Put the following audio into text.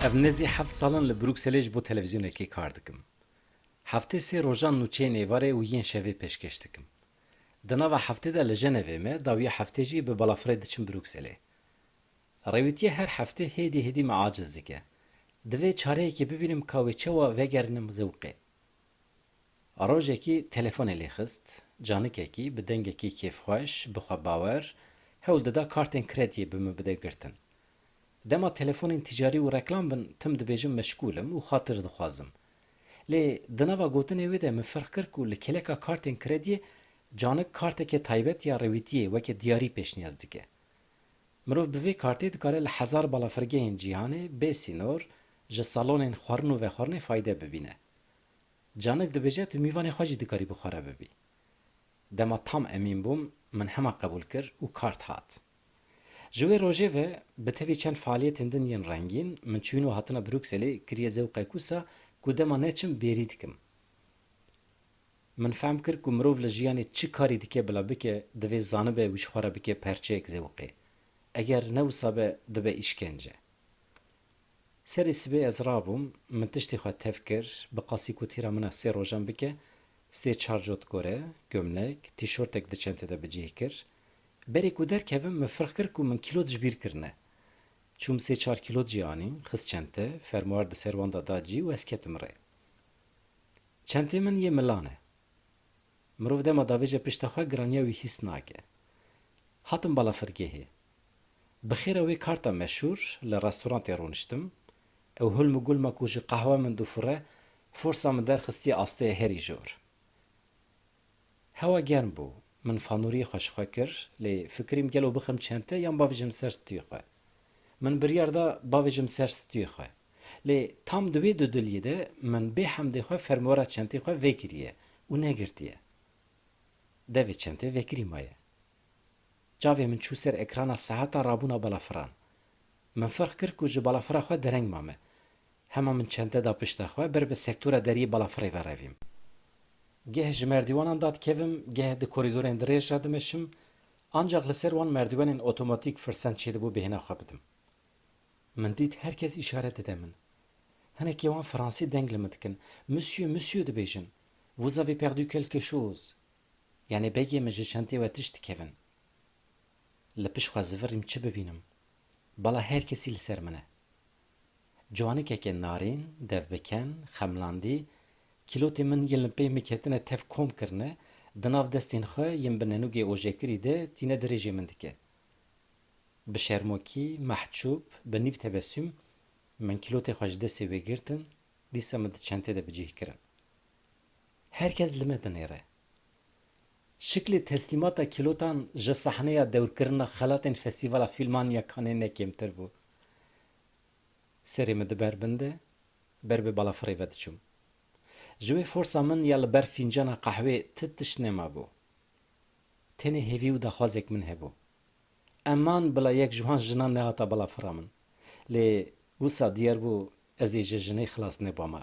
Ez nêzî heft sal in li Brukselê ji bo televîzyonekê kar dikim. Heftê sê rojan nûçeyên êvarê û yên şevê pêşkêş dikim. Di nava heftê de li Jenevê me, dawiya heftê jî bi balafirê diçim Brukselê. Rêwîtiyê her heftê hêdî hêdî me aciz dike. Divê çareyekê bibînim ka wê çawa vegerinim zewqê. Rojekî telefonê lê xist, canikekî bi dengekî kêfxweş, bi xwe bawer, hewl dida kartên krediyê bi min bide girtin. Dema telefonên tîcarî û reklam bin tim dibêjim meşgûl im û xatir dixwazim. Lê di nava gotinê wê de min ferq kir ku li kêleka kartên krediyê canik kartekê taybet ya rêwîtiyê weke diyarî pêşniyaz dike. Mirov bi vê kartê dikare li hezar balafirgehên cîhanê bê sînor ji salonên xwarin û vexwarinê fayde bibîne. Canik dibêje tu mîvanê xwe jî dikarî bi xwe re bibî. Dema tam emîn bûm min hema qebûl kir û kart hat. Ji wê rojê ve bi tevî çend faaliyetên din yên rengîn min çûyîn û hatina Brukselê kiriye zewqek wisa ku dema neçim bêrî dikim. Min fehm kir ku mirov li jiyanê çi karî dike bila bike divê zanibe wî ji xwe re bike perçeyek zewqê. Eger ne wisa be dibe îşkence. Serê sibê ez rabûm, min tiştê xwe tev kir, bi qasî kutîra min a sê rojan bike, sê çar cot kore, gomnek, tîşortek di çente de bi cih kir. Berê ku derkevim min firq kir ku min kîlot ji bîr kirine. Çûm sê çar kîlot jî anîn, xist çente, fermuar di ser wan de da cî û ez ketim rê. Çentê min yê milan e. Mirov dema davêje pişta xwe giraniya wî hîs nake. Hatim balafirgehê. Bi xêra wê karta meşûr li restorantê rûniştim. Ew hulm û gulma ku ji qehwe min dû fure, forsa min derxistiye asteyê herî jor. Hewa germ bû. Min fanûriyê xwe ji xwe kir, lê fikirîm gelo bixim çente yan bavêjim ser stûyê xwe. Min biryar da bavêjim ser stûyê xwe. Lê tam di wê dudiliyê de min bê hemdê xwe fermûara çentê xwe vekiriye û negirtiye. Devê çente vekirî maye. Çavê min çû ser ekrana sehata rabûna balafira. Min ferq kir ku ji balafira xwe dereng mame. Hema min çente da pişta xwe, ber bi sektora deriyê balafirê ve revîm. Geh ji merdîwanan da dikevim, geh di korîdorên dirêj re dimeşim, ancaq li ser wan merdîwenên otomatîk firsend çêdibû bêhna xwe bidim. Min dît her kes îşaret dide min. Hinekî wan fransî deng li min dikin, Monsieur, monsieur dibêjin, Vous avez perdu quelque chose? Yanî begê min ji çentê we tişt dikevin. Li pişt xwe zivirîm çi bibînim. Bala her kesî li ser min e. Ciwanikeke narîn, devbiken, xemlandî, Kîlotê min yên li pey miketine tev kom kirine, di nav destên xwe yên bi nenûgê ojekirî de tîne dirêjê min dike. Bi şermokî, mehçûb, bi nîv tebesûm, min kîlotê xwe ji destê wê girtin, dîsa min di çentê de bi cih kirin. Her kes li me dinêre. Şiklê teslîmata kîlotan ji sahneya dewrkirina xelatên Festîvala Fîlman ya Canê ne kêmtir bû. Serê min diber bin de ber bi balafirê ve diçûm. Ji wê forsa min ya li ber fîncana qehwê ti tişt nemabû. Tenê hêvî û daxwazek min hebû. Eman bila yek ji wan jinan nehata balafira min. Lê wisa diyar bû ez ê ji jinê xilas nebama.